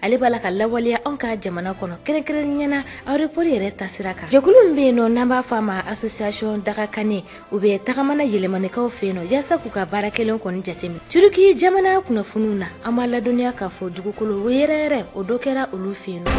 ale b'a la ka lawaleya anw ka jamana kɔnɔ kɛrɛnkɛrɛnniya na aéroport yɛrɛ taasira kan jɛkulu min bɛ yen nɔ n'an b'a fɔ a ma association dagakane u bɛ tagama na yɛlɛmanikaw fɛ yen nɔ yaasa k'u ka baara kɛlen kɔni jateminɛ turiki jamana kunnafoniw na an b'aw ladɔnniya k'a fɔ dugukolo yɛrɛyɛrɛ o dɔ kɛra olu fɛ yen nɔ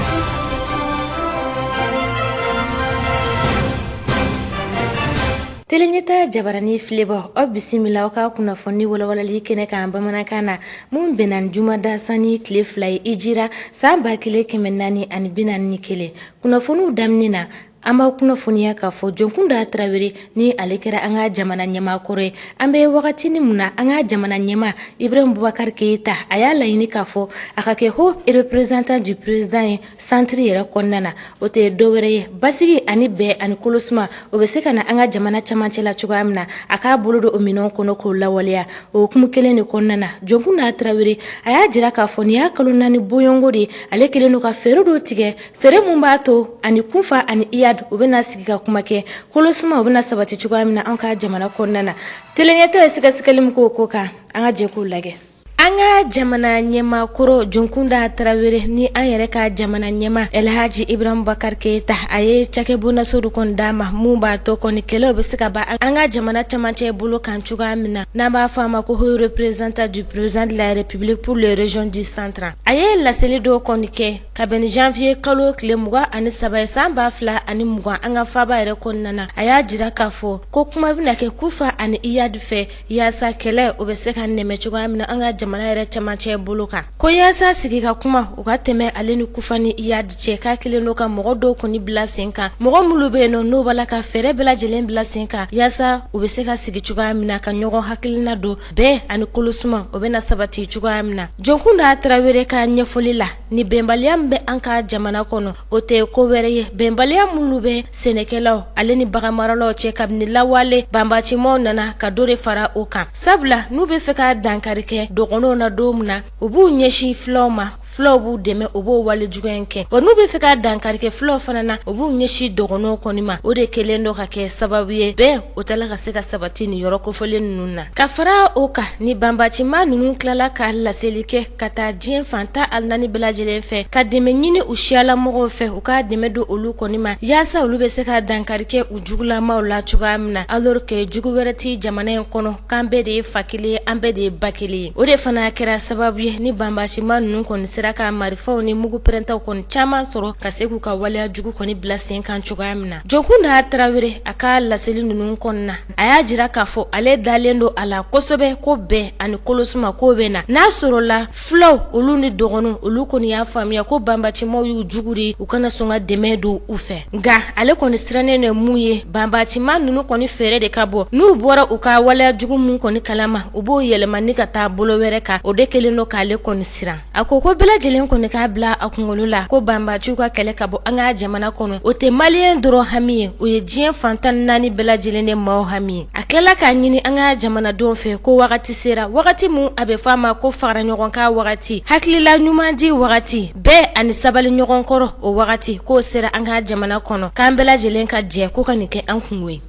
Teleɲɛta jabarani filɛbaw aw bisimila aw ka kunnafoni walawalali kɛnɛ kan bamanankan na min bɛnna ni jumada sani tile fila ye hijira san ba kelen kɛmɛ naani ani bi naani ni kelen kunnafoniw daminɛ na an b'aw kunnafoniya k'a fɔ jonkunda tarawele ni ale kɛra an ka jamana ɲɛmaa kɔrɔ ye an bɛ wagatini min na an ka jamana ɲɛmaa ibrahim bubakari keyita a y'a laɲini k'a fɔ a ka kɛ haut représentant du président ye Centre yɛrɛ kɔnɔna na o tɛ dɔwɛrɛ ye basigi ani bɛn ani kolo suma o bɛ se ka na an ka jamana camancɛ la cogoya min na a k'a bolo don o minɛn kɔnɔ k'o lawaleya o hukumu kelen de kɔnɔna na jonkunda tarawele a y'a jira k'a fɔ nin y'a kalo naani bɔɲɔgɔnko de ale kɛlen don ka fɛɛrɛ dɔ tigɛ fɛɛrɛ min b'a to a ni kufa ani iyadi u bɛna sigi ka kuma kɛ kolo suma u bɛna sabati cogoya min na an ka jamana kɔnɔna na teleɲɛta ye sɛgɛsɛgɛli min k'o ko kan an ka jɛ k'o lajɛ An ka jamana ɲɛmaa kɔrɔ jonkunda tarawele ni an yɛrɛ ka jamana ɲɛmaa elhaji ibrahim bubakari keyita a ye cakɛbonnaso dɔ kɔni d'a ma min b'a to kɔni kɛlɛw bɛ se ka ban an ka jamana camancɛ bolo kan cogoya min na n'an b'a fɔ a ma ko haut représentant du président de la république pour les régions du centre a ye laseli dɔ kɔni kɛ ka bɛn ni janvier kalo tile mugan ani saba ye san ba fila ani mugan an ka faaba yɛrɛ kɔnɔna na a y'a jira k'a fɔ ko kuma bɛna kɛ kufa ani iyadi fɛ Yaasa kɛlɛ o bɛ se ka nɛmɛ cogoya min na an ka jamana yɛrɛ camancɛ bolo kan ko yaasa sigi ka kuma u ka tɛmɛ ale ni kufa ni iyadi cɛ k'a kɛlen don ka mɔgɔ dɔw kɔni bila sen kan mɔgɔ minnu bɛ yen nɔ n'o b'a la ka fɛɛrɛ bɛɛ lajɛlen bila sen kan yaasa u bɛ se ka sigi cogoya min na ka ɲɔgɔn hakilina dɔn bɛn ani kolo suma o bɛna sabati cogoya min na jonkunda tarawele ka ɲɛfɔli la nin bɛnbaliya min bɛ an ka jamana kɔnɔ o tɛ ko wɛrɛ ye bɛnbaliya minnu bɛ sɛnɛkɛlaw ale ni baganmaralaw cɛ kabini lawale banbacimaw nana ka dɔ de fara o kan sabula n'u bɛ fɛ ka dankari kɛ dɔgɔnɔw na don min na u b'u ɲɛsin fulaw ma fulaw b'u dɛmɛ u b'o wale juguya in kɛ wa n'u bɛ fɛ ka dankari kɛ fulaw fana na u b'u ɲɛsin dɔgɔnɔw kɔni ma o de kɛlen don ka kɛ sababu ye bɛn o t'a la ka se ka sabati nin yɔrɔ kofɔlen ninnu na ka fara o kan ni banbacima ninnu tilala ka laseli kɛ ka taa diɲɛ fan tan ani naani bɛɛ lajɛlen fɛ ka dɛmɛ ɲini u siyalamɔgɔw fɛ u ka dɛmɛ don olu kɔni ma yaasa olu bɛ se ka dankari kɛ u jugulamaw la cogoya min na alors que jugu wɛrɛ tɛ jamana in kɔnɔ k'an bɛɛ de ye fa kelen ye an bɛɛ de ye ba kelen ye o de fana kɛra sababu ye ni banbacima ninnu kɔni sera ka marifaw ni mugu pɛrɛntaw kɔni caman sɔrɔ ka se k'u ka waleya jugu kɔni bila sen kan cogoya min na jonkunda tarawele a ka laseli ninnu kɔnɔna na a y'a jira k'a fɔ ale dalen don a la kosɛbɛ ko bɛn ani kolosuma k'o bɛ na n'a sɔrɔla fulaw olu ni dɔgɔnɔw olu kɔni y'a faamuya ko banbacimaw y'u jugu de u kana sɔn ka dɛmɛ don u fɛ nka ale kɔni sirannen de mun ye banbacima ninnu kɔni fɛɛrɛ de ka bon n'u bɔra u ka waleya jugu minnu kɔni kalama u b'o yɛlɛma ni ka taa bolo wɛrɛ kan o de kɛlen don k'ale kɔni siran A ko ko bɛɛ lajɛlen kɔni k'a bila a kunkolo la ko banbaciw ka kɛlɛ ka bɔ an ka jamana kɔnɔ o tɛ maliyɛn dɔrɔn hami ye o ye diɲɛ fan tan ni naani bɛɛ lajɛlen de maaw hami ye a tilala k'a ɲini an ka jamanadenw fɛ ko wagati sera wagati min a bɛ fɔ a ma ko fara ɲɔgɔn kan wagati hakilila ɲuman di wagati bɛn ani sabali ɲɔgɔn kɔrɔ o wagati k'o sera an ka jamana kɔnɔ k'an bɛɛ lajɛlen ka jɛ ko ka nin kɛ an kunko ye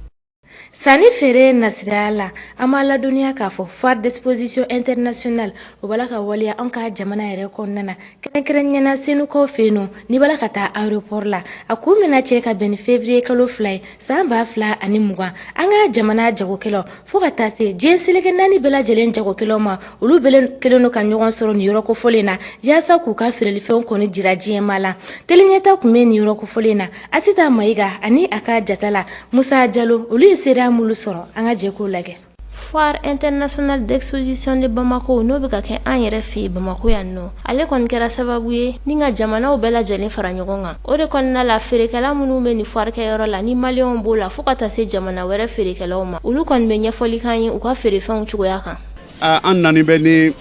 Sanni feere nasira la an b'a ladɔnniya k'a fɔ foire d'exposition internationale o b'a la ka waleya an ka jamana yɛrɛ kɔnɔna na kɛrɛnkɛrɛnniya na Senukaw fɛ yen nɔ n'i b'a la ka taa aéroport la a kun bɛna cɛ ka bɛn ni février kalo fila ye san ba fila ani mugan an ka jamana jagokɛlaw fo ka taa se diɲɛ seleke naani bɛɛ lajɛlen jagokɛlaw ma olu bɛɛ kɛlen don ka ɲɔgɔn sɔrɔ nin yɔrɔ kofɔlen na walasa k'u ka feerelifɛnw kɔni jira diɲɛmaa la tele Ɲɛta tun bɛ nin yɔrɔ kofɔlen na Asita Mayiga ani a ka jatala Musa Jalo olu ye seereya minnu sɔrɔ an ka jɛ k'o lajɛ foire internationale d'exposition de Bamako n'o bɛ ka kɛ an yɛrɛ fɛ yen bamakɔ yan nɔ ale kɔni kɛra sababu ye ni ka jamanaw bɛɛ lajɛlen fara ɲɔgɔn kan o de kɔnɔna la feerekɛla minnu bɛ nin foire kɛyɔrɔ la ni maliyɛnw b'o la fo ka taa se jamana wɛrɛ feerekɛlaw ma olu kɔni bɛ ɲɛfɔli k'an ye u ka feerefɛnw cogoya kan an nani bɛ ni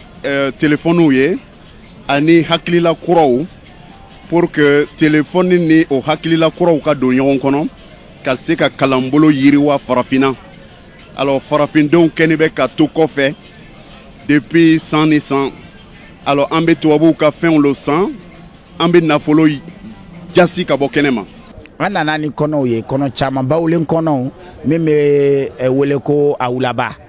telefɔniw ye ani hakilila kuraw Pour que téléphone ni o hakilila kuraw ka don ɲɔgɔn kɔnɔ ka se ka kalanbolo yiriwa farafinna alors farafindenw kɛni bɛ ka to kɔfɛ depuis san ni san alors an bɛ tubabuw ka fɛnw lo san an bɛ nafolo jasi ka bɔ kɛnɛ ma an nana ni kɔnɔw ye kɔnɔ caman bawule kɔnɔw min bɛ eh, wele ko awulaba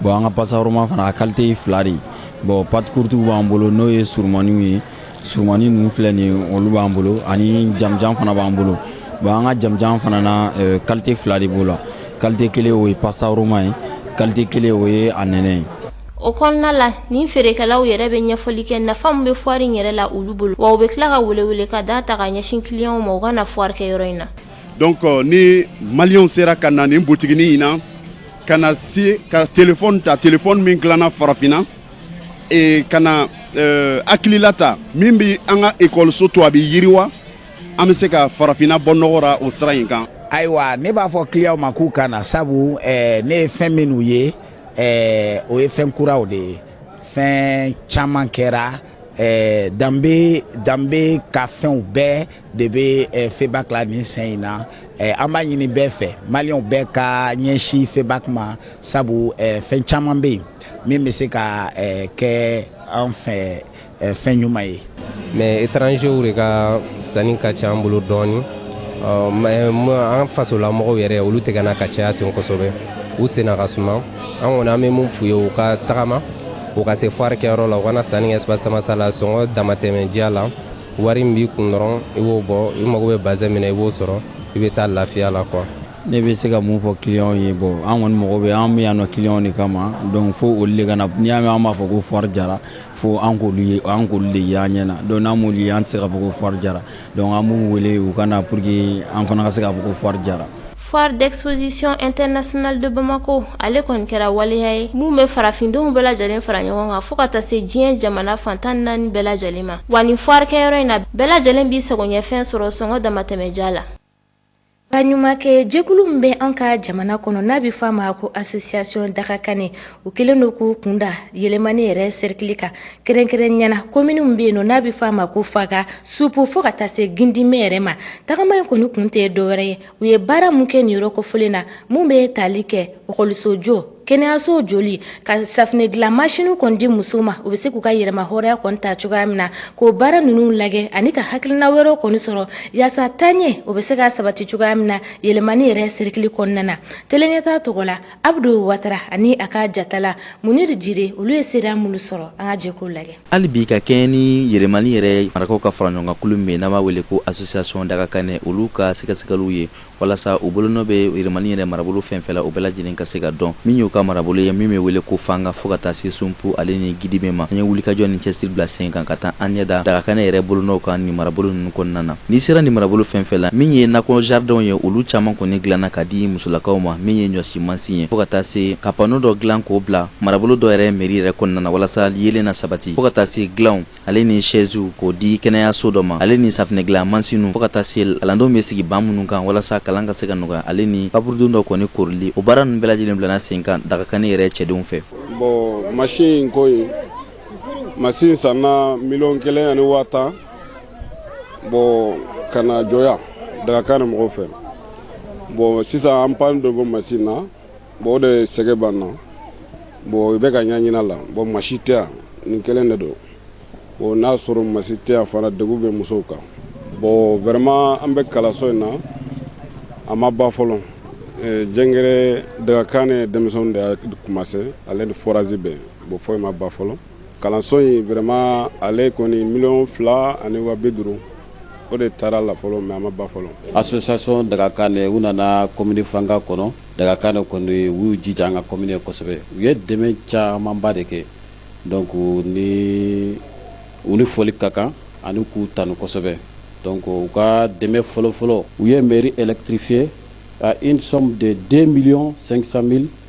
bon an ka pasta roma fana a kalite fila de ye bon pâtes courtes b'an bolo n'o ye surumaniw ye surumani ninnu filɛ nin ye olu b'an bolo ani jamanjan fana b'an bolo bon an ka jamanjan fana na euh, kalite fila de b'o la kalite kelen o ye pasta roma ye kalite kelen o ye a nɛnɛ ye o kɔnɔna la nin feerekɛlaw yɛrɛ bɛ ɲɛfɔli kɛ nafa min bɛ foire in yɛrɛ la olu bolo wa u bɛ tila ka welewele ka da ta ka ɲɛsin kiliyanw ma u ka na foire kɛyɔrɔ in na Donc euh, ni maliens sera ka na nin botiginin in na ka na se ka telefɔni ta telefɔni min dilanna farafinna e ka na euh, hakilila ta min bɛ an ka ekɔliso to a bɛ yiriwa an bɛ se ka farafinna bɔ nɔgɔ ra o sira in kan. ayiwa ne b'a fɔ kiliyanw ma k'u ka na sabu eh, ne ye fɛn minnu ye eh, o ye fɛn kuraw de ye fɛn caman kɛra eh, danbe danbe ka fɛnw bɛɛ de bɛ eh, febak la nin sen in na eh, an b'a ɲini bɛɛ fɛ maliyɛnw bɛɛ ka ɲɛsin febak ma sabu eh, fɛn caman bɛ yen min bɛ se ka kɛ an fɛ fɛn ɲuman ye mais étrangers de ka sanni ka ca an bolo dɔɔni an fasolamɔgɔw yɛrɛ olu tɛ ka na ka caya ten kosɛbɛ u senna ka suma an kɔni an bɛ mun f'u ye u ka tagama u ka se foire kɛyɔrɔ la u ka na sanni kɛ espace samasa la sɔngɔ damatɛmɛ diya la wari min b'i kun dɔrɔn i b'o bɔ i mago bɛ bazin min na i b'o sɔrɔ i bɛ taa lafiya la quoi ne bɛ se ka mun fɔ clients ye bon an kɔni mago bɛ an bɛ yan nɔ clients de kama donc fo olu de ka na n'i y'a mɛn an b'a fɔ ko foire jara fo an k'olu ye an k'olu de ye an ɲɛ na donc n'an m'olu ye an tɛ se k'a fɔ ko foire jara donc an b'u wele u ka na pour que an fana ka se k'a fɔ ko foire jara. Foire d'exposition internationale de Bamako ale kɔni kɛra waleya ye min bɛ farafindenw bɛɛ lajɛlen fara ɲɔgɔn kan fo ka taa se diɲɛ jamana fan tan naani bɛɛ lajɛlen ma wa nin foire kɛyɔrɔ in na bɛɛ lajɛlen b'i sagoɲɛfɛn sɔrɔ sɔngɔ damatɛmɛ diya la Baɲumankɛ jɛkulu min bɛ an ka jamana kɔnɔ n'a bɛ f'a ma ko association Dagakane u kɛlen don k'u kun da Yelimani yɛrɛ cercle kan kɛrɛnkɛrɛnnenya na commune min bɛ yen nɔ n'a bɛ f'a ma ko Fanga Sumpu fo ka taa se Gidime yɛrɛ ma tagama in kɔni kun tɛ dɔwɛrɛ ye u ye baara min kɛ nin yɔrɔ kofɔlen na minnu bɛ tali kɛ ekɔliso jɔ kɛnɛyaso jɔli ka safinɛ dilan masini kɔni di musow ma u bɛ se k'u ka yɛrɛmahɔrɔnya kɔni ta cogoya min na k'o baara ninnu lajɛ ani ka hakilina wɛrɛ kɔni sɔrɔ yaasa taaɲɛ o bɛ se ka sabati cogoya min na Yelimani yɛrɛ sɛrikili kɔnɔna na Tele Ɲɛtaa tɔgɔ la Abudu Watara ani a ka jatala Muniri Jire olu ye seereya minnu sɔrɔ an ka jɛ k'o lajɛ hali bi ka kɛɲɛ ni Yelimani yɛrɛ marakaw ka faraɲɔgɔnkan kulu min n'a b'a wele ko association Dagakane olu ka sɛgɛsɛgɛli ye walasa u bolonɔ bɛ Yelimani yɛrɛ marabolo fɛn fɛn na o bɛɛ lajɛlen ka se ka dɔn min y'u ka marabolo ye min bɛ wele ko Fanga fo ka taa se Sumpu ale ni Gidime ma an ye wulikajɔ ni cɛsiri bila sen kan ka taa an ɲɛ da Dagakane yɛrɛ bolonɔw kan nin marabolo ninnu kɔnɔna na N'i sera nin marabolo fɛn fɛn la, min ye nakɔ jaridɛnw ye, olu caman kɔni dilanna ka di musolakaw ma, min ye ɲɔsi mansin ye, fo ka taa se ka pano dɔ dilan k'o bila marabolo dɔ yɛrɛ meri yɛrɛ kɔnɔna na, walasa yeelen na sabati, fo ka taa se dilanw ale ni sɛziw k'o di kɛnɛyaso dɔ ma, ale ni safinɛ dilan mansinw, fo ka taa se kalandenw bɛ sigi ban minnu kan walasa kalan ka se ka nɔgɔya ale ni kaburudo dɔ kɔni koorili, o baara ninnu bɛɛ lajɛlen bilanna sen kan Dagakane yɛrɛ cɛdenw fɛ. Bon masin ko in, masin sanna miliyɔn kelen ani waa tan. bɔn ka na jɔ yan Dagakane mɔgɔw fɛ bɔn sisan an pan dɔ b'o masini na bɔn o de sɛgɛn b'an na bɔn i bɛ ka ɲaɲina la bɔn masini tɛ yan nin kelen de don bɔn n'a sɔrɔ masini tɛ yan fana degun bɛ musow kan bɔn vraiment an bɛ kalanso in na a ma ban fɔlɔ eh, jɛngɛrɛ Dagakane denmisɛnw de y'a kɔmanse ale ni forazi bɛ bɔn foyi ma ban fɔlɔ kalanso in vraiment ale kɔni miliyɔn fila ani waa bi duuru o de taara la fɔlɔ mais a ma ban fɔlɔ association Dagakane u nana commune Fanga kɔnɔ Dagakane kɔni u y'u jija an ka commune ye kosɛbɛ u ye dɛmɛ camanba de kɛ donc ni u ni foli ka kan ani k'u tanu kosɛbɛ donc u ka dɛmɛ fɔlɔfɔlɔ u ye mairie électrifier à une somme de 2 millions 500 mille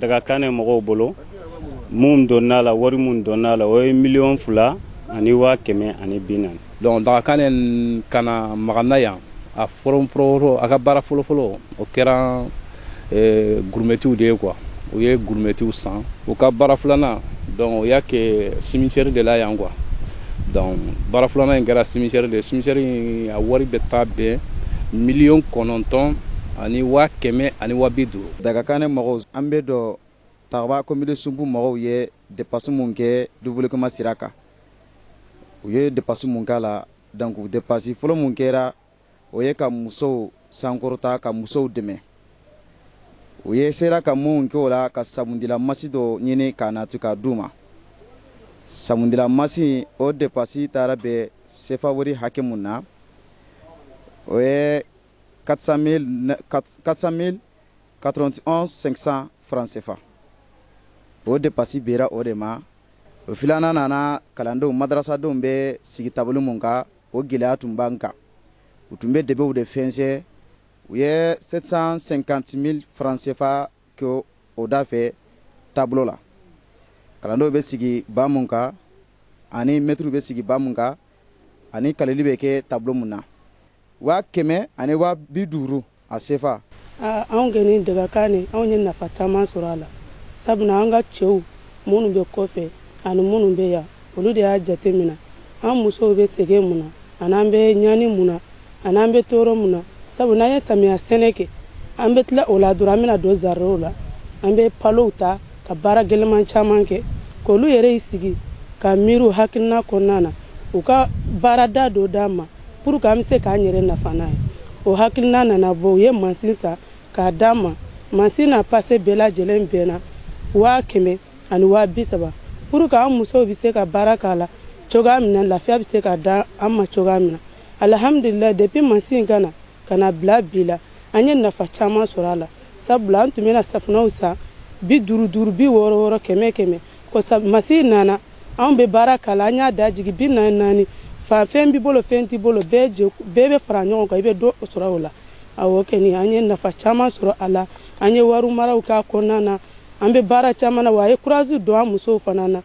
Dagakane mɔgɔw bolo mun donna la wari mun donna la o ye miliyɔn fila ani waa kɛmɛ ani bi naani donc Dagakane ka na Magana yan a fɔlɔfɔlɔ a ka baara fɔlɔfɔlɔ o kɛra eh, gurumɛtiw de ye quoi u ye gurumɛtiw san u ka baara filanan donc o y'a kɛ cimetière de la yan quoi donc baara filanan in kɛra cimetière de ye cimetière in a wari bɛ taa bɛn miliyɔn kɔnɔntɔn ani waa kɛmɛ ani waa bi duuru Dagakane mɔgɔw an bɛ dɔ Takaba komini Sunbu mɔgɔw ye depasi mun kɛ développement sira kan u ye depasi mun k'a la donc depasi fɔlɔ mun kɛra o ye ka musow sankɔrɔta ka musow dɛmɛ u ye sera ka mun kɛ o la ka sabundila mansin dɔ ɲini k'a nati k'a d'u ma sabundila mansin o depasi taara bɛn sefa wari hakɛ min na o ye 400.491.500 francs CFA o depasi bɛnna o de ma o filanan nana kalandenw madarasadenw bɛ sigi tabolo min kan o gɛlɛya tun b'an kan u tun bɛ debew de fɛnsɛ u ye 750.000 francs CFA kɛ o da fɛ tabolo la kalandenw bɛ sigi ban min kan ani mɛtiriw bɛ sigi ban min kan ani kaleli bɛ kɛ tabolo min na waa kɛmɛ ani waa bi duuru a sefa anw kɔni Dagakane anw ye nafa caman sɔrɔ a la sabula an ka cɛw minnu bɛ kɔfɛ ani minnu bɛ yan olu de y'a jate mina an musow bɛ sɛgɛn mun na an'an bɛ ɲani mun na an'an bɛ tɔɔrɔ mun na sabu n'an ye samiya sɛnɛ kɛ an bɛ tila o la dɔrɔn an bɛna don zaridɛnw la an bɛ palow ta ka baara gɛlɛman caman kɛ k'olu yɛrɛ y'i sigi ka miiri u hakilina kɔnɔna na u ka baarada dɔ d'an ma Pour que an bɛ se k'an yɛrɛ nafa n'a ye o hakilina nana bɔ u ye mansin san k'a d'an ma mansin n'a pase bɛɛ lajɛlen bɛnna waa kɛmɛ ani waa bi saba pour que an musow bɛ se ka baara k'a la cogoya min na lafiya bɛ se ka d'an ma cogoya min na alihamdulila depuis mansin in ka na Ka na bila bi la, an ye nafa caman sɔrɔ a la. Sabula an tun bɛna safunɛw san bi duuru duuru, bi wɔɔrɔ wɔɔrɔ, kɛmɛ kɛmɛ. Kɔsa mansin nana, anw bɛ baara k'a la, an y'a da jigin bi naani naani. Fɛn b'i bolo, fɛn t'i bolo, bɛɛ jɛ, bɛɛ bɛ fara ɲɔgɔn kan, i bɛ dɔ sɔrɔ o la. Awɔ kɔni, an ye nafa caman sɔrɔ a la. An ye wari maraw kɛ a kɔnɔna na. An bɛ baara caman na, wa a ye kurazi don an musow fana na.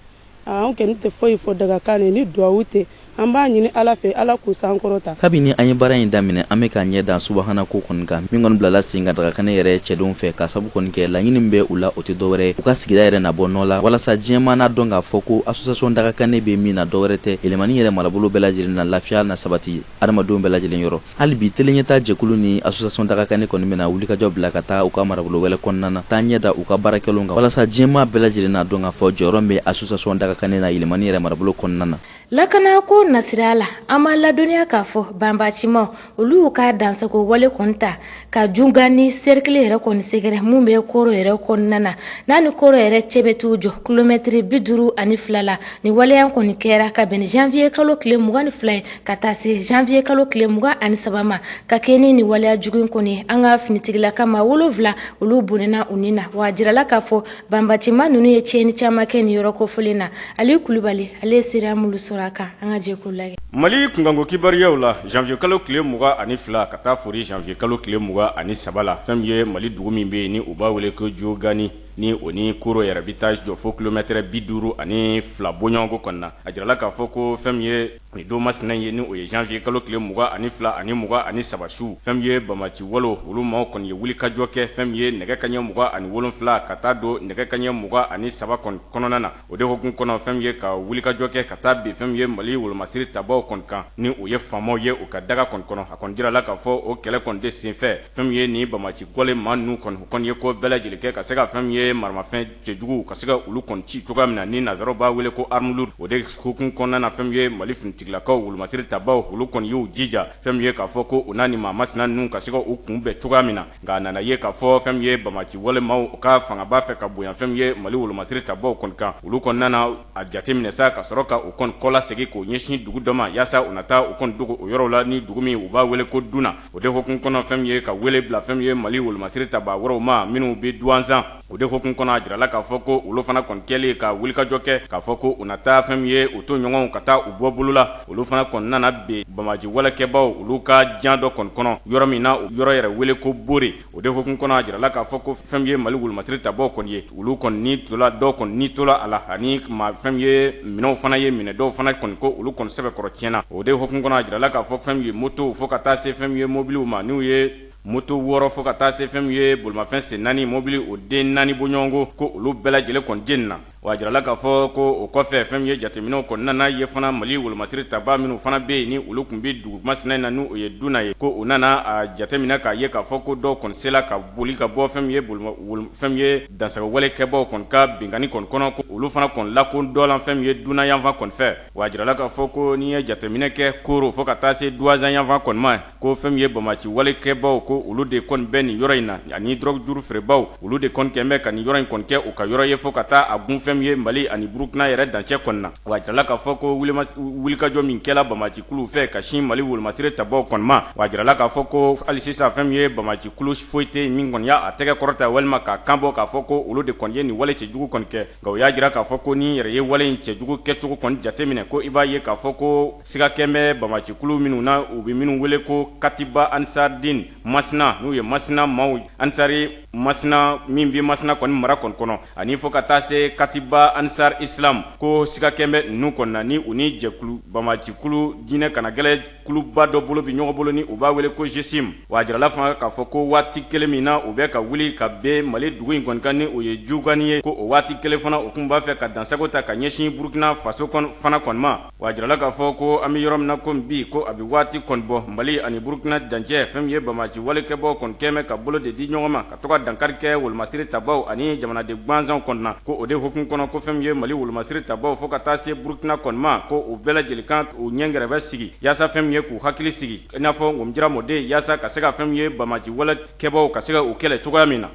An kɛni tɛ foyi fɔ dagakanɛ ni duwawu tɛ, an b'a ɲini Ala fɛ Ala k'u sankɔrɔta. Kabini an ye baara in daminɛ, an bɛ k'an ɲɛ da subahana ko kɔni kan, min kɔni bilala sen kan dagakanɛ yɛrɛ cɛdenw fɛ, k'a sabu kɔni kɛ laɲini min bɛ u la, o tɛ dɔwɛrɛ, u ka sigida yɛrɛ na bɔ nɔ la, walasa diɲɛ maa n'a dɔn k'a fɔ ko association dagakanɛ bɛ min na, dɔwɛrɛ tɛ, Yɛlɛmani yɛrɛ marabolo bɛɛ lajɛlen na, lafiya na sabati hadamadenw bɛɛ lajɛlen yɔrɔ. hali bi teleɲɛta jɛkulu ni association dagakanɛ kɔni bɛna wulikajɔ bila ka taa u ka marabolo yɛrɛ kɔnɔna na taa ɲɛ da u ka baarakɛlenw kan walasa diɲɛmaa bɛɛ lajɛlen n'a dɔn k'a fɔ jɔyɔrɔ bɛ association dagakanɛ na yɛlɛmani yɛrɛ marabolo kɔnɔna na lakanako nasira la an b'a ladɔnniya k'a fɔ banbaaci maaw olu y'u ka dansagon wale kɔni ta ka Diougani serikili yɛrɛ kɔni sɛgɛrɛ min bɛ koro yɛrɛ kɔnɔna na n'a ni koro yɛrɛ cɛ bɛ t'u jɔ kilomɛtiri bi duuru ani fila la nin waleya kɔni kɛra ka bɛn janvier kalo tile mugan ni fila ye ka taa se janvier kalo tile mugan ani saba ma ka kɛɲɛ ni waleya jugu in kɔni an ka finitigilaka maa wolonwula olu bɔnɛna u ni na wa a jirala k'a fɔ Banbaaci maa ninnu ye tiɲɛni caman kɛ nin yɔrɔ kofɔlen na, Aliyu Kulubali ale ye seereya minnu sɔrɔ a kan, an ka jɛ k'u lajɛ. Mali kunkanko kibaruyaw la, janvier kalo tile mugan ani fila ka taa fori janvier kalo tile mugan ani saba la, fɛn min ye Mali dugu min bɛ yen ni u b'a wele ko Diougani, ni o ni Koro yɛrɛ bɛ taa jɔ fo kilomɛtɛrɛ bi duuru ani fila bɔɲɔgɔnko kɔni na, a jirala k'a fɔ ko fɛn min ye Nin don masina ye ni o ye janvier kalo tile mugan ani fila ani mugan ani saba su fɛn min ye banbaaci wale olu maaw kɔni ye wulikajɔ kɛ fɛn min ye nɛgɛ kanɲɛ mugan ani wolonwula ka taa don nɛgɛ kanɲɛ mugan ani saba kɔnɔna na o de hukumu kɔnɔ fɛn min ye ka wulikajɔ kɛ ka taa bin fɛn min ye mali wolomasiri tabaw kɔni kan ni o ye faamaw ye u ka daga kɔni kɔnɔ a kɔni jirala k'a fɔ o kɛlɛ kɔni de senfɛ fɛn min ye nin banbaaci wale maa ninnu kɔni u kɔni ye ko bɛɛ lajɛlen kɛ ka se ka fɛn min ye maramafɛn cɛjugu ka se ka olu kɔni ci cogoya min na ni nansaraw b'a wele ko arme lourde o de hukumu kɔnɔna na fɛn min ye mali finitigilakaw wolomasiri tabaw olu kɔni y'u jija fɛn min ye k'a fɔ ko u na nin maa masina ninnu ka se ka u kunbɛn cogoya min na nka a nana ye k'a fɔ fɛn min ye banbaaci wale maaw u ka fanga b'a fɛ ka bonya fɛn min ye mali wolomasiri tabaw kɔni kan olu kɔni nana a jateminɛ sa ka sɔrɔ ka u kɔni kɔ lasegin k'o ɲɛsin dugu dɔ ma yaasa u na taa u kɔni dogo o yɔrɔ la ni dugu min u b'a wele ko Duna o de hukumu kɔnɔ fɛn min ye ka wele bila fɛn min ye mali wolomasiri taba wɛrɛw ma minnu bɛ Duwanzan O de hukumu kɔnɔ a jirala k'a fɔ ko olu fana kɔni kɛlen ka wulikajɔ kɛ k'a fɔ ko u na taa fɛn min ye u tɔɲɔgɔnw ka taa u bɔ bolo la olu fana kɔni nana bin banbaaci walekɛbaw olu ka jan dɔ kɔni kɔnɔ yɔrɔ min na o yɔrɔ yɛrɛ wele ko Bore o de hukumu kɔnɔ a jirala k'a fɔ ko fɛn min ye mali wolomasiri tabaw kɔni ye olu kɔni ni tola dɔw kɔni ni tola a la ani maa fɛn min ye minɛnw fana ye minɛn dɔw fana kɔni ko olu kɔni sɛbɛkɔrɔ tiɲɛna o de hukumu kɔnɔ a jirala k'a fɔ fɛn min ye motow fo ka taa se fɛn min ye mobiliw ma n'u ye Moto wɔɔrɔ fo ka taa se fɛn min ye bolimafɛn sen naani mobili o den naani bɔɲɔgɔnko ko olu bɛɛ lajɛlen kɔni jenina. Wa a jirala k'a fɔ ko o kɔfɛ fɛn min ye jateminɛw kɔni nana ye fana Mali wolomasiri tabaa minnu fana bɛ yen ni olu tun bɛ dugu masunna in na ni o ye Duna ye ko u nana a jateminɛ k'a ye k'a fɔ ko dɔw kɔni sela ka boli ka bɔ fɛn min ye bolomafɛn fɛn min ye dansagowale kɛbaaw kɔni ka binkanni kɔni kɔnɔ ko olu fana kɔni lakodɔnla fɛn min ye Duna yanfan kɔni fɛ. Wa a jirala k'a fɔ ko n'i ye jateminɛ kɛ Koro fo ka taa se Duwazan yanfan kɔni ma, ko fɛn min ye bamaci walekɛbaw ko olu de kɔni bɛ nin yɔrɔ in na ani drogue dure feerebaw olu de kɔni kɛlen bɛ ka nin yɔrɔ in kɔni kɛ u ka yɔrɔ ye fo ka taa a gun fɛn min ye mali ani burukina yɛrɛ dancɛ kɔni na wa jirala k'a fɔ ko wulikajɔ min kɛra bamacikulu fɛ ka sin mali wolomasiri tabaw kɔni ma wa jirala k'a fɔ ko hali sisan fɛn min ye bamacikulu foyi tɛ yen min kɔni y'a tɛgɛ kɔrɔta walima k'a kan bɔ k'a fɔ ko olu de kɔni ye nin wale cɛjugu kɔni kɛ Nka u y'a jira k'a fɔ ko n'i yɛrɛ ye wale in cɛjugu kɛcogo kɔni jateminɛ ko i b'a ye k'a fɔ ko siga kɛlen bɛ banbacikulu minnu na u bɛ minnu wele ko katiba ansaridini masina n'u ye masina maaw ansari masina min bɛ masina kɔni mara kɔni kɔnɔ ani fo ka taa se katiba ansari isilamu ko siga kɛlen bɛ ninnu kɔni na ni u ni jɛkulu banbacikulu diinɛ kanagɛlɛn Kuluba dɔ bolo bɛ ɲɔgɔn bolo ni u b'a wele ko GSIM wa jirala fana k'a fɔ ko waati kelen min na u bɛ ka wuli ka bin mali dugu in kɔni kan ni o ye jugani ye ko o waati kelen fana u tun b'a fɛ ka dansago ta ka ɲɛsin burukina faso fana kɔni ma wa jirala k'a fɔ ko an bɛ yɔrɔ min na ko bi ko a bɛ waati kɔni bɔ mali ani burukina dancɛ fɛn min ye bamaci walekɛbaw kɔni kɛlen bɛ ka bolo de di ɲɔgɔn ma a to ka dankari kɛ wolomasiri tabaw ani jamanaden gansanw kɔni na ko o de hukumu kɔnɔ ko fɛn min ye mali wolomasiri tabaw fo ka taa se burukina kɔni ma ko u bɛɛ lajɛlen kan u ɲɛgɛrɛbɛ sigi yaasa fɛn min ye k'u hakili sigi i n'a fɔ komi jira mɔden yaasa ka se ka fɛn min ye bamaci walekɛbaw ka se ka u kɛlɛ cogoya min na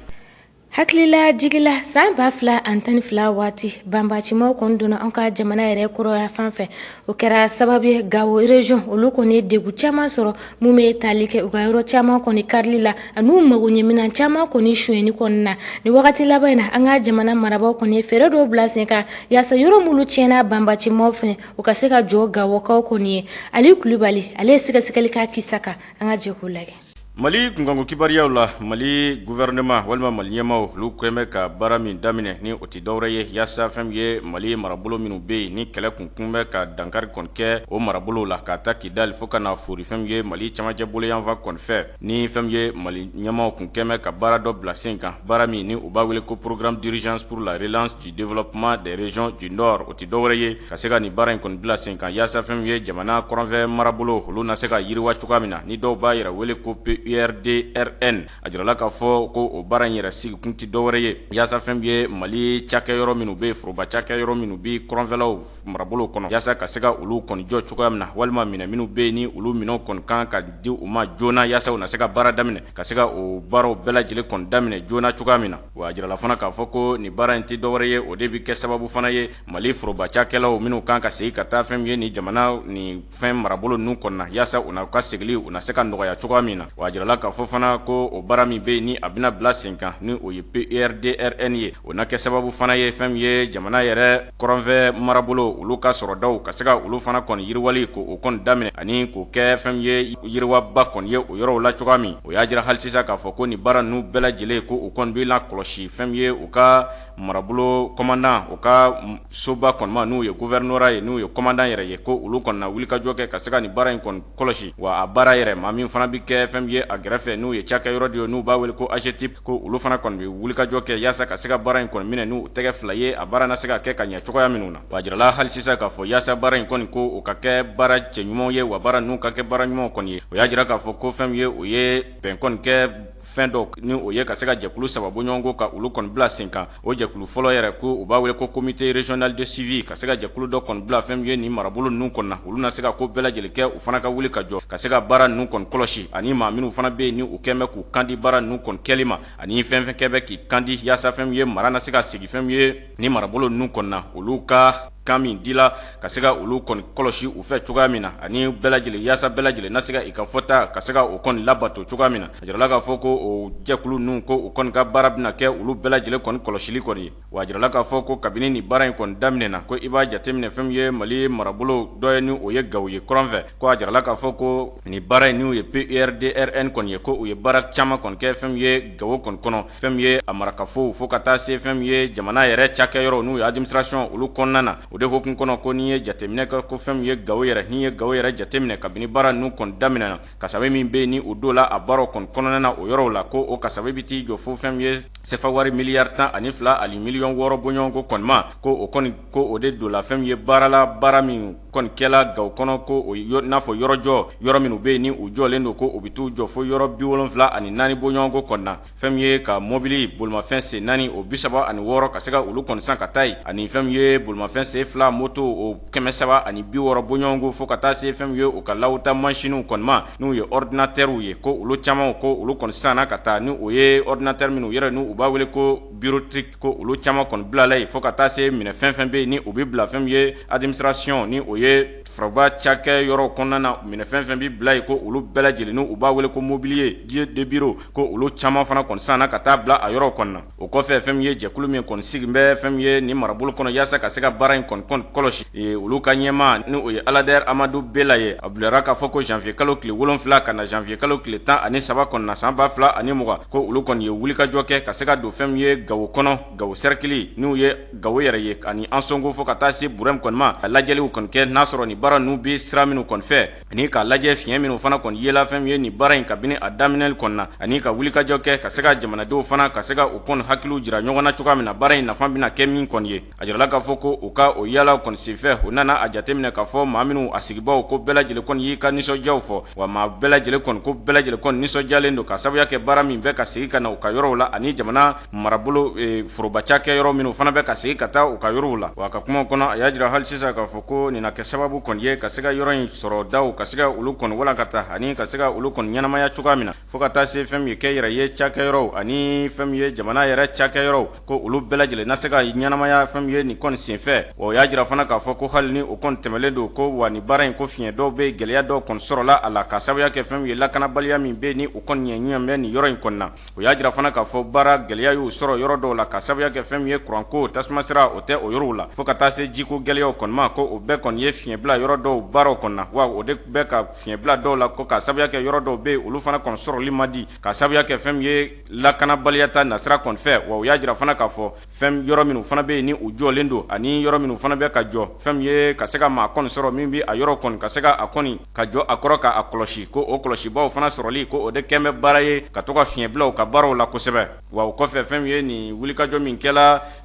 hakililajigi la san ba fila ani tan ni fila waati banbacimaw kɔni donna an ka jamana yɛrɛ kɔrɔn yanfan fɛ o kɛra sababu ye gawo region olu kɔni ye degun caman sɔrɔ mun bɛ tali kɛ u ka yɔrɔ caman kɔni karili la an'u magoɲɛminɛn caman kɔni sonyɛni kɔni na ni wagati laban in na an ka jamana marabaaw kɔni ye fɛɛrɛ dɔw bila sen kan yaasa yɔrɔ minnu tiɲɛna banbacimaw fɛ u ka se ka jɔ gawokaw kɔni ye ali kulubali ale ye sɛgɛsɛgɛli k'a kisa kan an ka jɛ k'o lajɛ Mali kunkanko kibaruyaw la mali gouvernement walima mali ɲɛmaaw olu kɛlen bɛ ka baara min daminɛ ni o tɛ dɔwɛrɛ ye yaasa fɛn min ye mali marabolo minnu bɛ yen ni kɛlɛ kun tun bɛ ka dankari kɔni kɛ o marabolow la k'a ta kidali fo ka na foori fɛn min ye mali camancɛ bolo yanfan kɔni fɛ ni fɛn min ye mali ɲɛmaaw tun kɛlen bɛ ka baara dɔ bila sen kan baara min ni u b'a wele ko programme d'urgence pour la relance développement des régions du nord o tɛ dɔwɛrɛ ye ka se ka nin baara in kɔni bila sen kan yaasa fɛn min ye jamana kɔrɔnfɛ marabolo olu na se ka yiriwa cogoya min na ni dɔw b'a yɛrɛ wele ko PURDRN a jirala k'a fɔ ko o baara in yɛrɛ sigikun tɛ dɔwɛrɛ ye yaasa fɛn min ye mali cakɛyɔrɔ minnu bɛ yen foroba cakɛyɔrɔ minnu bɛ kɔrɔnfɛlaw marabolo kɔnɔ yaasa ka se ka olu kɔni jɔ cogoya min na walima minɛn minnu bɛ yen ni olu minɛn kɔni kan ka di u ma joona yaasa u na se ka baara daminɛ ka se ka o baaraw bɛɛ lajɛlen kɔni daminɛ joona cogoya min na wa a jirala fana k'a fɔ ko nin baara in tɛ dɔwɛrɛ ye o de bɛ kɛ sababu fana ye mali foroba cakɛlaw minnu kan ka segin ka taa fɛn min ye nin jamana nin fɛn marabolo ninnu kɔnɔ na yaasa u ka segili u na se ka nɔgɔya cogoya min na wa a jirala k'a fɔ fana ko o baara min bɛ yen ni a bɛna bila sen kan ni o ye PURDRN ye o na kɛ sababu fana ye fɛn min ye jamana yɛrɛ Kɔrɔnfɛ marabolo olu ka sɔrɔdaw ka se ka olu fana kɔni yiriwali k'o kɔni daminɛ ani k'o kɛ fɛn min ye yiriwaba kɔni ye o yɔrɔw la cogoya min o y'a jira hali sisan k'a fɔ ko nin baara ninnu bɛɛ lajɛlen ko u kɔni bɛna kɔlɔsi fɛn min ye u ka marabolo komandan u ka soba kɔni ma n'u ye gouvernorat ye n'u ye komandan yɛrɛ ye ko olu kɔni na wulikajɔ kɛ ka se ka nin baara in kɔni kɔlɔsi wa a baara yɛrɛ maa min fana bɛ kɛ fɛn min ye a gɛrɛfɛ n'u ye cakɛyɔrɔ de ye n'u b'a wele ko AGETIPE ko olu fana kɔni bɛ wulikajɔ kɛ yaasa ka se ka baara in kɔni minɛ n'u tɛgɛ fila ye a baara na se ka kɛ ka ɲɛ cogoya minnu na wa a jirala hali sisan k'a fɔ yaasa baara in kɔni ko u ka kɛ baara cɛɲumanw ye wa baara ninnu ka kɛ baara ɲumanw kɔni ye o y'a jira k'a fɔ ko fɛn ye o ye bɛn kɔni kɛ fɛn dɔ ni o ye ka se ka jɛkulu saba bɔɲɔgɔnko ka olu kɔni bila sen kan O jɛkulu fɔlɔ yɛrɛ ko u b'a wele ko comité régional de suivi ka se ka jɛkulu dɔ kɔni bila fɛn min ye nin marabolo ninnu kɔnɔ na olu na se ka ko bɛɛ lajɛlen kɛ u fana ka wuli ka jɔ ka se ka baara ninnu kɔni kɔlɔsi ani maa minnu fana bɛ yen ni u kɛlen bɛ k'u kandi baara ninnu kɔni kɛli ma ani fɛnfɛn kɛlen bɛ k'i kandi yaasa fɛn min ye mara na se ka segin fɛn min ye nin marabolo ninnu kɔnɔ na olu ka kan min dila ka se ka olu kɔni kɔlɔsi u fɛ cogoya min na ani bɛɛ lajɛlen yaasa bɛɛ lajɛlen na se ka i ka fɔta ka se ka o kɔni labato cogoya min na a jirala k'a fɔ ko o jɛkulu ninnu ko u kɔni ka baara bɛna kɛ olu bɛɛ lajɛlen kɔni kɔlɔsili kɔni ye wa a jirala k'a fɔ ko kabini nin baara in kɔni daminɛna ko i b'a jateminɛ fɛn min ye mali marabolo dɔ ye ni o ye gawo ye kɔrɔn fɛ ko a jirala k'a fɔ ko nin baara in n'u ye PURDRN kɔni ye ko u ye baara caman kɔni kɛ fɛn min ye gawo kɔni kɔnɔ fɛn min ye a marakafow fo ka taa se fɛn min ye jamana yɛrɛ cakɛyɔrɔw n'u ye administration olu kɔnɔna na o de hukumu kɔnɔ ko n'i ye jateminɛ kɛ ko fɛn min ye gawo yɛrɛ n'i ye gawo yɛrɛ jateminɛ kabini baara ninnu kɔni daminɛna kasabi min bɛ yen ni o don la a baara kɔni kɔnɔna na o yɔrɔw la ko o kasabi bɛ t'i jɔ fo fɛn min ye sefa wari miliyari tan ani fila ani miliyɔn wɔɔrɔ bɔɲɔgɔnko kɔni ma ko o kɔni ko o de don la fɛn min ye baara la baara min kɔni kɛla gawo kɔnɔ ko n'a fɔ yɔrɔ jɔ yɔrɔ minnu bɛ yen ni u jɔlen don ko u bɛ t'u jɔ fo yɔrɔ bi wolonwula ani naani bɔɲɔgɔnko kɔni na fɛn min ye ka mɔbili bolimafɛn sen naani o bi saba ani wɔɔrɔ ka se ka olu kɔni san ka taa yen ani fɛn min ye bolimafɛn sen fila moto o kɛmɛ saba ani bi wɔɔrɔ bɔɲɔgɔnko fo ka taa se fɛn min ye u ka lawuta mansiniw kɔni ma n'u ye ɔridinatɛriw ye ko olu caman ko olu kɔni sanna ka taa ni o ye ɔridinatɛri minnu yɛrɛ n'u b'a wele ko bureautique ko olu caman kɔni bilala yen fo ka taa se minɛ fɛn fɛn bɛ yen ni u bɛ bila fɛn min ye administration ni o ye foroba cakɛ yɔrɔ kɔnɔna na minɛ fɛn fɛn bɛ bila yen ko olu bɛɛ lajɛlen n'u b'a wele ko mobilier de bureau ko olu caman fana kɔni sanna ka taa bila a yɔrɔ kɔnɔna na o kɔfɛ fɛn min ye jɛkulu min kɔni sigilen bɛ fɛn min ye nin marabolo kɔnɔ yaasa ka se ka baara in kɔni kɔlɔsi Ee olu ka ɲɛmaa ni o ye Aladɛri Amadu Bela ye, a bilara k'a fɔ ko janvier kalo tile wolonwula ka na janvier kalo tile tan ani saba kɔni na san ba fila ani mugan, ko olu kɔni ye wulikajɔ kɛ ka se ka don fɛn min ye Gawo kɔnɔ, Gawo cercle n'o ye Gawo yɛrɛ ye ani Ansongo fo ka taa se Burɛmu kɔni ma, ka lajɛliw kɔni kɛ n'a sɔrɔ nin baara ninnu bɛ sira minnu kɔni fɛ ani k'a lajɛ fiɲɛ minnu fana kɔni yela fɛn min ye nin baara in kabini a daminɛli kɔni na ani ka wulikajɔ kɛ ka se ka jamanadenw fana ka se ka u kɔni hakiliw jira ɲɔgɔn na cogoya min na baara in nafa bɛna kɛ min kɔni ye. A jirala k'a fɔ ko u ka o yala kɔni senfɛ u nana a jateminɛ k'a fɔ maa minnu a sigibaaw ko bɛɛ lajɛlen kɔni y'i ka nisɔndiyaw fɔ wa maa bɛɛ lajɛlen kɔni ko bɛɛ lajɛlen kɔni nisɔndiyalen don ka sababuya kɛ baara min bɛ ka segin ka na u ka yɔrɔw la ani jamana marabolo forobacakɛ yɔrɔ minnu fana bɛ ka segin ka taa u ka yɔrɔw la wa a ka kumaw kɔnɔ a y'a jira hali sisan k'a fɔ ko nin na kɛ sababu kɔni ye ka se ka yɔrɔ in sɔrɔdaw ka se ka olu kɔni walankata ani ka se ka olu kɔni ɲɛnamaya cogoya min na Fo ka taa se fɛn min ye kɛnyɛrɛye cakɛ yɔrɔw ani fɛn min ye jamana yɛrɛ cakɛ yɔrɔw ko olu bɛɛ lajɛlen na se ka ɲɛnamaya fɛn min ye nin kɔni senfɛ wa o y'a jira fana k'a fɔ ko hali ni o kɔni tɛmɛnlen don ko wa nin baara in ko fiɲɛ dɔw bɛ gɛlɛya dɔw kɔni sɔrɔla a la ka sababuya kɛ fɛn min ye lakanabaliya min bɛ ni o kɔni ɲɛ ɲɛ bɛ nin yɔrɔ in kɔnɔna na o y'a jira fana k'a fɔ baara gɛlɛya y'u sɔrɔ yɔrɔ dɔw la ka sababuya kɛ fɛn min ye kuranko tasuma sira o tɛ o yɔrɔw la fo ka taa se jiko gɛlɛyaw kɔni ma ko o bɛɛ kɔni ye fiɲɛ bila yɔrɔ dɔw baaraw kɔni na wa o de bɛ ka fiɲɛ bila dɔw la ko ka sababuya kɛ yɔrɔ dɔw bɛ yen olu fana kɔni sɔrɔli man di ka sababuya kɛ fɛn min ye lakanabaliya ta nasira kɔni fɛ wa u y'a jira fana k'a fɔ fɛn yɔrɔ minnu fana bɛ yen ni u jɔlen don ani yɔrɔ minnu fana bɛ ka jɔ fɛn min ye ka se ka maa kɔni sɔrɔ min bɛ a yɔrɔ kɔni ka se ka a kɔni ka jɔ a kɔrɔ k'a kɔlɔsi ko o kɔlɔsibaaw fana sɔrɔli ko o de kɛlen bɛ baara ye ka to ka fiɲɛ bila u ka baaraw la kosɛbɛ wa o kɔfɛ fɛn min ye nin wulikajɔ min kɛ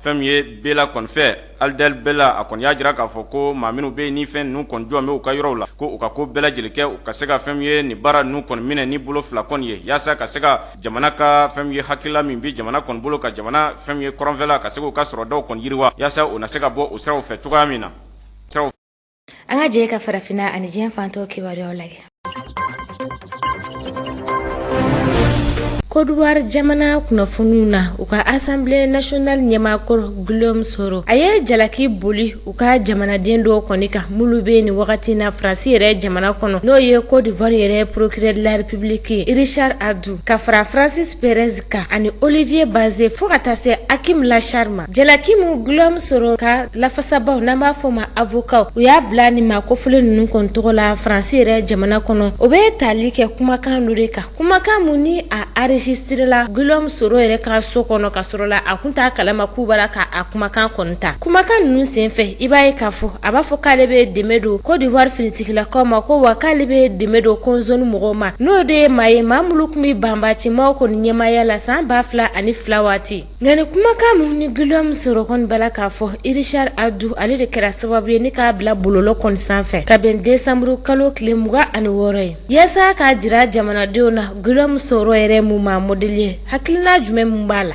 Fɛn min ye Bela kɔni fɛ Aladɛri Bela a kɔni y'a jira k'a fɔ ko maa minnu bɛ ni fɛn ninnu kɔni jɔ bɛ u ka yɔrɔw la ko u ka ko bɛɛ lajɛlen kɛ u ka se ka fɛn min ye nin baara ninnu kɔni minɛ ni bolo fila kɔni ye yaasa ka se ka jamana ka fɛn min ye hakilila min bɛ jamana kɔni bolo ka jamana fɛn min ye kɔrɔnfɛla ka se k'u ka sɔrɔdaw kɔni yiriwa yaasa u na se ka bɔ u siraw fɛ cogoya min na an ka jɛ ka farafinna ani diɲɛ fan tɔw kibaruyaw lajɛ Kodowari jamana kunnafoniw na u ka Assemblée nationale ɲɛmaakɔrɔ Guillaume Soro a ye jalaki boli u ka jamanaden dɔw kɔni kan minnu bɛ nin wagati na Faransi yɛrɛ jamana kɔnɔ n'o ye Kodowari yɛrɛ procureur de la République Richard Adou ka fara Francis Perez kan ani olivier bazin fo ka taa se akim laacher ma jalaki mu guillaume soro ka lafasabaw n'an b'a fɔ ma avokaw u y'a bila nin maa kofɔlen ninnu kɔni tɔgɔ la faransi yɛrɛ jamana kɔnɔ o bɛ tali kɛ kumakan dɔ de kan kumakan mun ni a enregistrela guillaume soro yɛrɛ ka so kɔnɔ ka sɔrɔ la a kun t'a kalama k'u b'a la ka a kumakan kɔni ta kumakan ninnu senfɛ i b'a ye k'a fɔ a b'a fɔ k'ale bɛ dɛmɛ don kodiwari finitigilakaw ma ko wa k'ale bɛ dɛmɛ don kɔmzoni mɔgɔw ma n'o de ye maa ye maa minnu tun bɛ banbacɛmaw kɔni ɲɛmaaya la san ba fila ani fila waati nka nin kumakan mun ni guillaume soro kɔni b'a la k'a fɔ richard adou ale de kɛra sababu ye ni k'a bila bɔlɔlɔ kɔni sanfɛ ka bɛn desanburu kalo tile mugan ani wɔɔrɔ ye yaasa k'a jira jamanadenw na guillaume soro yɛrɛ mun maa modɛli ye hakilina jumɛn min b'a la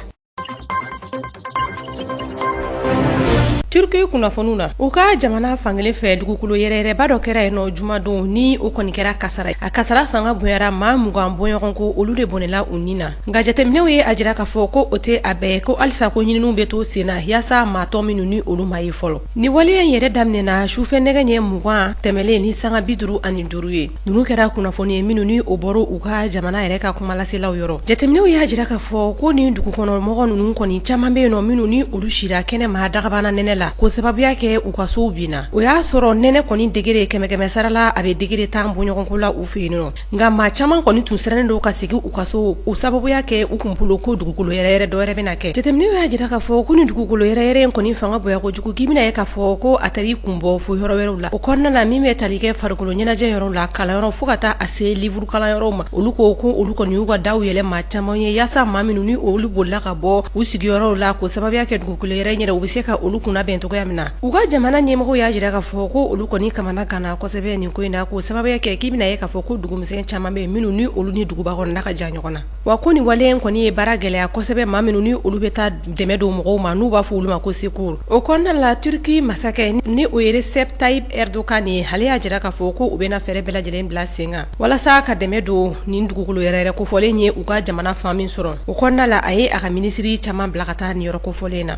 turki kunnafoniw na u ka jamana fankelen fɛ dugukolo yɛrɛyɛrɛba dɔ kɛra yen nɔ jumadon ni o kɔni kɛra kasara a kasara fanga bonyara maa mugan bɔɲɔgɔn ko olu de bɔnɛla u ni na nka jateminɛw ye a jira k'a fɔ ko o tɛ a bɛɛ ko halisa ko ɲininiw bɛ to sen na yaasa maa tɔ minnu ni olu ma ye fɔlɔ ni waleya in yɛrɛ daminɛna sufɛ nɛgɛ ɲɛ mugan tɛmɛlen ni sanga bi duuru ani duuru ye ninnu kɛra kunnafoni ye minnu ni o bɔra u ka jamana yɛrɛ ka kumalaselaw yɔrɔ jateminɛw y'a jira k'a fɔ ko nin dugukɔnɔmɔgɔ ninnu kɔni caman bɛ yen nɔ minnu ni olu sira kɛnɛma dagabana nɛnɛ la k'o sababuya kɛ u ka sow binna o y'a sɔrɔ nɛnɛ kɔni degere kɛmɛkɛmɛ sarala a bɛ degere tan bɔɲɔgɔnko la u fɛ yen nɔ nka maa caman kɔni tun sirannen don ka segin u ka so o sababuya kɛ u kun bolo ko dugukolo yɛrɛyɛrɛ dɔ wɛrɛ bɛna kɛ jateminɛw y'a jira k'a fɔ ko nin dugukolo yɛrɛyɛrɛ in kɔni fanga bonya kojugu k'i bɛna ye k'a fɔ ko a tari kun bɔ fo yɔrɔ wɛrɛw la O kɔnɔna la min bɛ tali kɛ farikolo ɲɛnajɛ yɔrɔw la kalanyɔrɔ fo ka taa a se liburu kalanyɔrɔw ma olu ko ko olu kɔni y'u ka daw yɛlɛ maa caman ye yaasa maa minnu ni olu bolila ka bɔ u sigiyɔrɔw la k'o sababuya kɛ dugukolo yɛrɛyɛrɛ u bɛ se ka olu kunnabɛn cogoya min na u ka jamana ɲɛmɔgɔw y'a jira k'a fɔ ko olu kɔni kamanaganna kosɛbɛ nin ko in na k'o sababuya kɛ k'i bɛna ye k'a fɔ ko dugumisɛn caman bɛ yen minnu ni olu ni duguba kɔnɔna ka jan ɲɔgɔn na Wa ko nin waleya in kɔni ye baara gɛlɛya kosɛbɛ maa minnu ni olu bɛ taa dɛmɛ don mɔgɔw ma n'u b'a fɔ olu ma ko secours o kɔnɔna la turki masakɛ ni o ye recep tayyip erdogan ye ale y'a jira k'a fɔ ko u bɛna fɛɛrɛ bɛɛ lajɛlen bila sen kan walasa ka dɛmɛ don nin dugukolo yɛrɛyɛrɛ kofɔlen ye u ka jamana fan min sɔrɔ o kɔnɔna la a ye a ka minisiri caman bila ka taa nin yɔrɔ kofɔlen na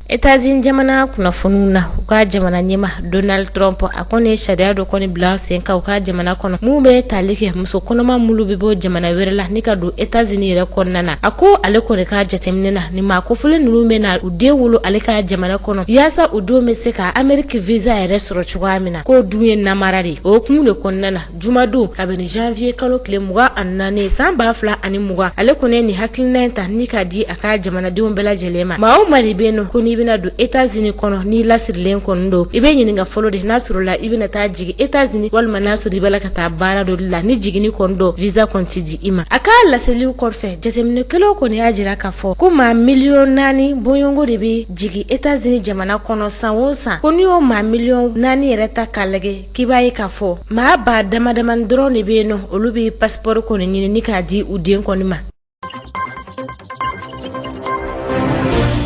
etazini jamana kunnafoniw na u ka jamana ɲɛmaa donald trump a kɔni ye sariya dɔ kɔni bila sen kan u ka jamana kɔnɔ min bɛ tali kɛ muso kɔnɔma minnu bɛ bɔ jamana wɛrɛ la ni ka don etazini yɛrɛ kɔnɔna na a ko ale kɔni ka jateminɛ na nin maa kofɔlen ninnu bɛ na u den wolo ale ka jamana kɔnɔ yaasa u denw bɛ se ka ameriki visa yɛrɛ sɔrɔ cogoya min na k'o dun ye namara de ye o hukumu de kɔnɔna na Jumadon kabini janvier kalo tile mugan ani naani san ba fila ani mugan ale kɔni ye nin hakilina in ta ni k'a di a ka jamanadenw bɛɛ lajɛlen ma maa o maa de bɛ yen nɔ ko n'i bɛna don États-Unis kɔnɔ n'i lasirilen kɔni don i bɛ ɲininka fɔlɔ de n'a sɔrɔla i bɛna taa jigin États-Unis walima n'a sɔrɔ i bɛ la ka taa baara dɔ la ni jigini kɔni don visa kɔni ti di i ma a ka laseliw kɔfɛ jateminɛkɛlaw kɔni y'a jira k'a fɔ ko maa miliyɔn naani bɔɲɔgɔnko de bɛ jigin États-Unis jamana kɔnɔ san o san ko n'i y'o maa miliyɔn naani yɛrɛ ta k'a lajɛ k'i b'a ye k'a fɔ maa ba dama damani dɔrɔn de bɛ yen nɔ olu bɛ pasipɔri kɔni ɲini ni k'a di u den kɔni ma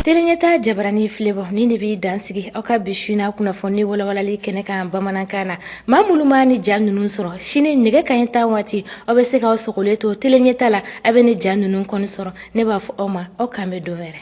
Teleɲɛta jabarani filɛbaaw nin de bɛ dan sigi aw ka bi su in na kunnafoni walawalali kɛnɛ kan bamanankan na maa minnu ma nin ja ninnu sɔrɔ sini nɛgɛ kanɲɛ tan waati aw bɛ se k'aw sogolen to teleɲɛta la aw bɛ nin ja ninnu kɔni sɔrɔ ne b'a fɔ aw ma aw k'an bɛn don wɛrɛ